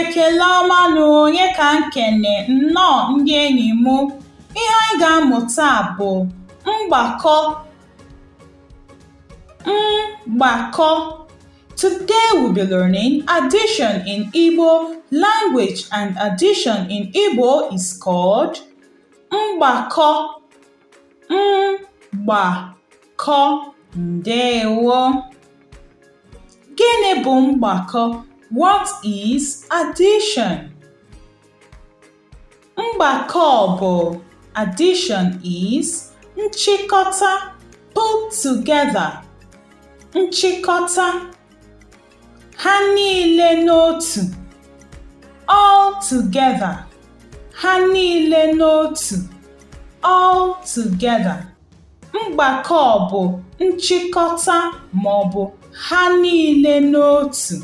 ekele ọma nụ onye ka nkene nnọọ ndị enyi m ihe anyị ga-amụ taa bụ mgbakọ mgbakọ Today we'll be learning addition in Igbo language and addition in Igbo is called mgbakọ mgbakọ ndewo. Gịnị bụ mgbakọ? What is addition? Mgbakọ bụ addition is nchịkọta put together nchịkọta ha niile n'otu all together ha niile n'otu all together mgbakọ bụ nchịkọta maọbụ ha niile n'otu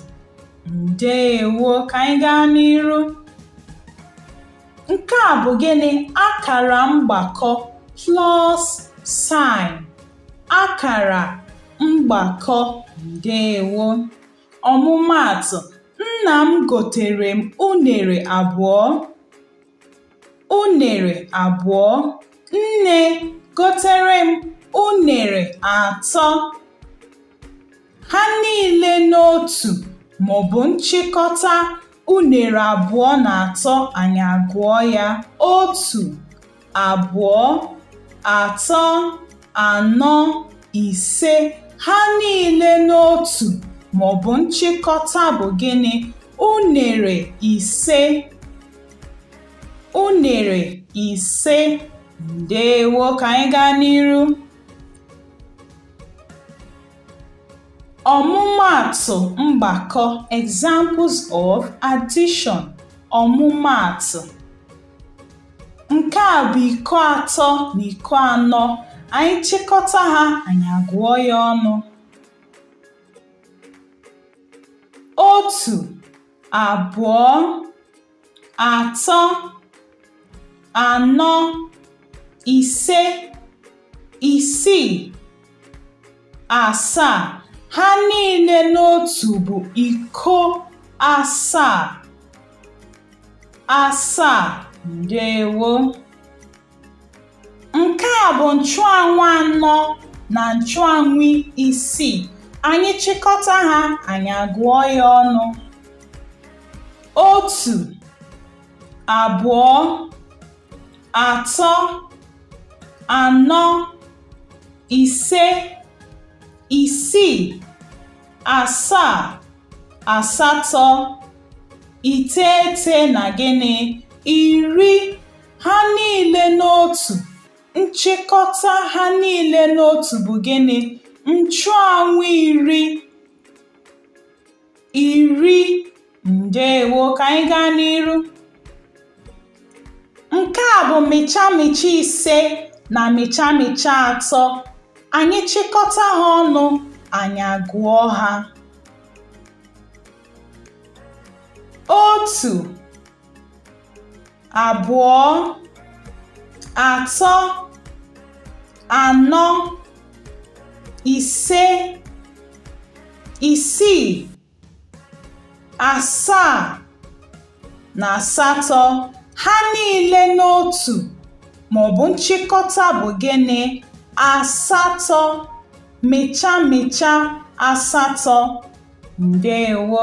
Ndewo, ka anyị gaa n'iru. Nke a bụ gịnị? Akara mgbakọ plus sign. Akara mgbakọ. Ndewo. Ọmụmaatụ, nna m gotere m unere abụọ. Unere abụọ. Nne gotere m unere atọ. Ha niile n'otu maọbụ nchịkọta unere abụọ na atọ anyị agụọ ya otu, abụọ, atọ, anọ, ise. Ha niile n'otu maọbụ nchịkọta bụ gịnị? Unere ise. Unere ise. Ndewo ka anyị gaa n'iru. Ọmụmaatụ mgbakọ examples of addition ọmụmaatụ nke a bụ iko atọ na iko anọ anyị chịkọta ha anyị agụọ ya ọnụ otu abụọ atọ anọ ise isii asaa ha niile n'otu bụ iko asaa asaa ndewo Nke a bụ nchụanwụ anọ na nchụanwụ isii. Anyị chịkọta ha, anyị agụọ ya ọnụ. Otu, abụọ, atọ, anọ, ise, isii, asaa, asatọ, iteghete na gịnị? Iri Ha niile n'otu. Nchịkọta ha niile n'otu bụ gịnị? Nchụanwụ iri iri ndeewo ka anyị gaa n'iru nke a bụ mịcha mịcha ise na mịcha mịcha atọ anyị chịkọta ha ọnụ anyị agụọ ha otu abụọ atọ anọ ise isii asaa na asatọ ha niile n'otu maọbụ nchịkọta bụ gịnị asatọ mịcha mịcha asatọ ndeewo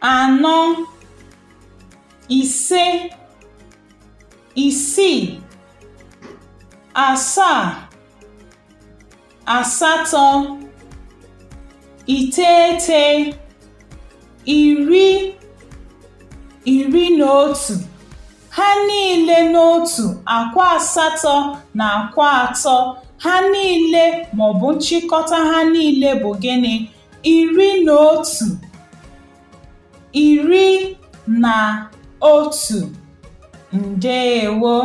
anọ ise isii asaa asatọ iteghete iri iri na otu ha niile n'otu akwa asatọ na akwa atọ ha niile maọbụ nchịkọta ha niile bụ gịnị iri na otu iri na otu ndeewo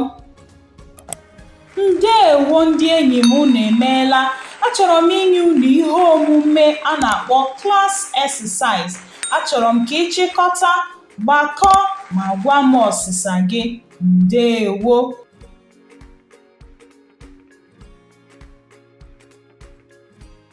ndeewo ndị enyi m unu emeela achọrọ m inye unu ihe omume a na-akpọ class exercise achọrọ m ka ị chịkọta gbakọ ma gwa m ọsịsa gị ndeewo